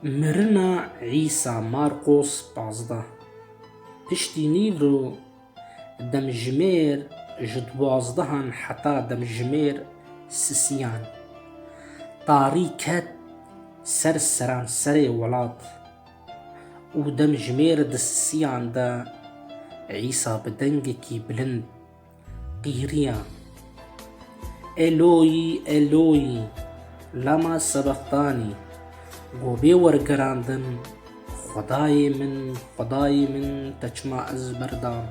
Mirina Îsa Marqos pazdeh piştî nîv û demjimêr ji duwazdehan heta demjimêr sisiyan tarî ket ser seranserê welat û demjimêr di sisiyan de Îsa bi dengekî bilind Qîriya Eloî Eloî lama sebextanî Go bê wergerandin Xwedayê min Xwedayê min te çima ez berdan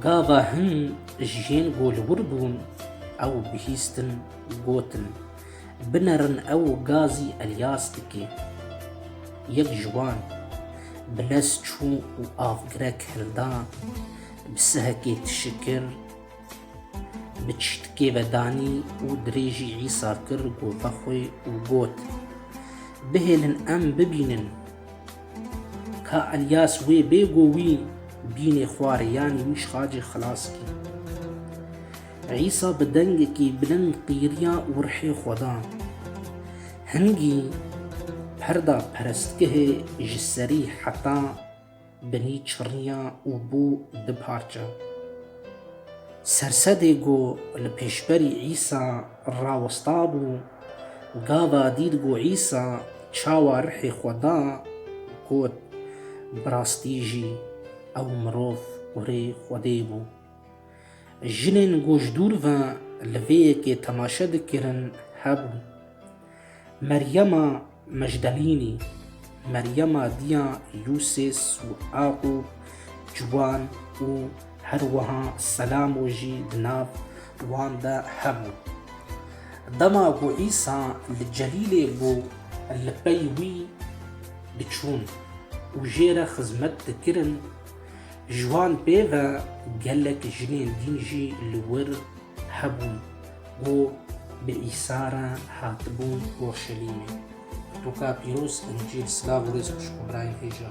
Gava hin jiyên golwir bûn ew bihîstin gotin Binerin ew gazî Elyas dikê Yek ji wan bi lez çû û avgirek hilda Bi sihekê tişikir, bi çîtkê ve danî û dirêjî Îsa kir gopa xwe û got, Bihêlin em bibînin ka Elyas wê bê ku wî bînê xwarê yanî wî ji xacê xilas kî. Îsa bi dengekî bilind qîriya û rihê xwe da. Hingî perda perestgehê ji serî heta binî çirriya û bû du parçe. Sersedê ku li pêşberî Îsa rawestabû, gava dît ku Îsa çawa rihê xwe da, got, Bi rastî jî ew mirov kurê Xwedê bû. Jinên ku ji dûr ve li vê yekê temaşe dikirin hebûn. Meryema, Mejdelînî, Meryema Diya Yûsês û Axûb Ciwan û her wiha Selamo jî di nav wan de hebû. Dema ku Îsa li Celîlê bû li pey wî diçûn û jê re xizmet dikirin, ji wan pê ve gelek jinên dîn jî li wir hebûn. Û bi îsara hatibû Urşelîmê. Tu ka pîroz Încîl silav û rêz xwişk û birayê hêja.